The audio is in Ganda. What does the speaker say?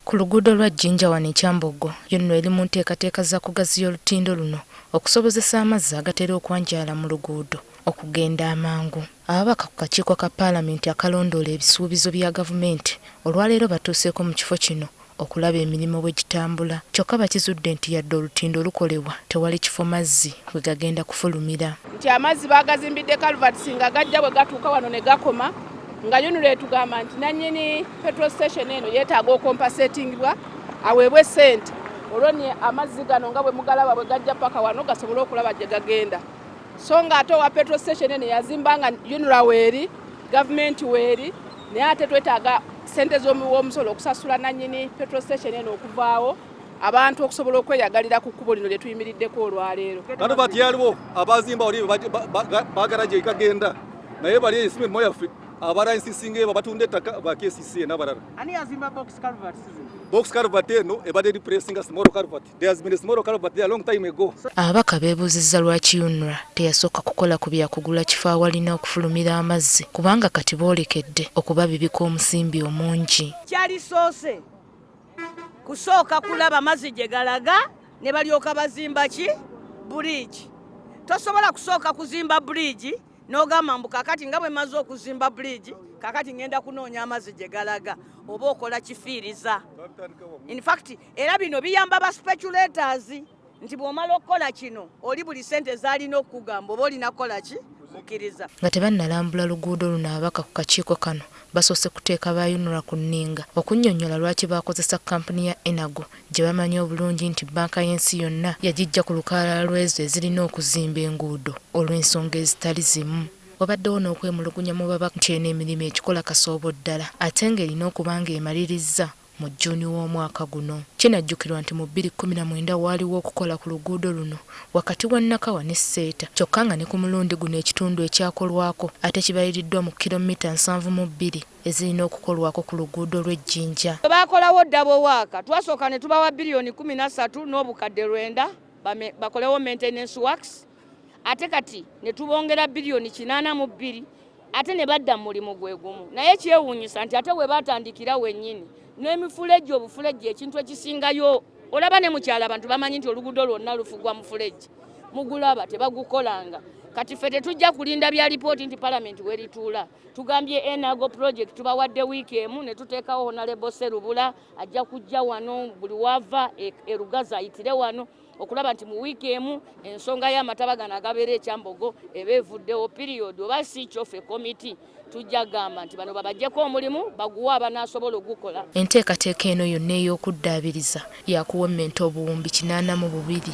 Ku luguudo lwa Jinja wano e Kyambogo yonno eri mu nteekateeka za kugaziya olutindo luno okusobozesa amazzi agatera okwanjaala mu luguudo okugenda amangu. Ababaka ku kakiiko ka paalamenti akalondoola ebisuubizo bya gavumenti olwaleero batuuseeko mu kifo kino okulaba emirimu bwe gitambula kyokka bakizudde nti yadde olutindo lukolebwa tewali kifo mazzi we gagenda kufulumira. Nti amazzi baagazimbidde culverts nga gajja bwe gatuuka wano ne gakoma. nga yunira etugamba nti nannyini petrol station eno yeetaaga okompasetingibwa aweebwe sente olwo ni amazzi gano nga bwe mugalaba bwe gajja paka wano gasobole okulaba gye gagenda so nga ate owa petrol station eno yazimba nga yunira weeri gavumenti weeri naye ate twetaaga sente z'omuwa omusolo okusasula nannyini petrol station eno okuvaawo abantu okusobola okweyagalira ku kkubo lino lyetuyimiriddeko olwaleero kati bati yaliwo abazimba oli bagala gyekagenda naye bali ensimu emu yaffe abara ensisinga eba batunda ettaka ba kcc nabalala box calvert eno ebadde repressing a small calvert there has been a small calvert there a long time ago ababaka beebuuzizza lwaki unra teyasooka kukola ku byakugula kifo awalina okufulumira amazzi kubanga kati boolekedde okubabibika omusimbi omungi kyalisoose kusooka kulaba mazzi gye galaga ne balyoka bazimba ki buriigi tosobola kusooka kuzimba buriigi n'ogamba mbu kakati nga bwe maze okuzimba buriigi kakati ngenda kunoonya amazzi gye galaga oba okola kifiiriza infact era bino biyamba ba speculators nti bw'omala okukola kino oli buli ssente zaalina okukugamba oba olina kukola ki mukkiriza nga tebannalambula luguudo luno ababaka ku kakiiko kano basoose kuteeka ba unra ku nninga okunnyonnyola lwaki baakozesa kkampuni ya enago gye bamanyi obulungi nti bbanka y'ensi yonna yagijja ku lukalala lw'ezo ezirina okuzimba enguudo olw'ensonga ezitali zimu wabaddewo n'okwemulugunya mu babaka nti eno emirimu ekikola kasoobo ddala ate ng'erina okuba ng'emalirizza mu June w'omwaka guno. Kinajjukirwa nti mu bbiri kkumi na mwenda waaliwo okukola ku luguudo luno wakati wa Nakawa ne Seeta kyokka nga ne ku mulundi guno ekitundu ekyakolwako ate kibaliriddwa mu kilommita nsanvu mu bbiri ezirina okukolwako ku luguudo lw'e Jinja. Bwe baakolawo double work, twasooka ne tubawa bbiriyoni kkumi na ssatu n'obukadde lwenda bakolewo maintenance works ate kati ne tubongera biliyoni kinaana mu bbiri ate ne badda mu mulimu gwe gumu naye kyewuunyisa nti ate we baatandikira wennyini n'emifulejje obufulejje ekintu ekisingayo olaba ne mukyala abantu bamanyi nti oluguudo lwonna lufugwa mufulejje mugulaba tebagukolanga kati ffe tetujja kulinda bya lipooti nti palamenti werituula tugambye enago project tubawadde wiiki emu ne tuteekawo honalebo serubula ajja kujja wano buli wava erugazi e ayitire wano okulaba nti mu wiiki emu ensonga y'amataba gano agabeera ekyambogo eba evuddewo piriyodi oba si kyo ffe komiti tujja gamba nti bano babajjeko omulimu baguwe abanaasobola ogukola enteekateeka eno yonna ey'okuddaabiriza yakuwemmenta obuwumbi kinaana mu bubiri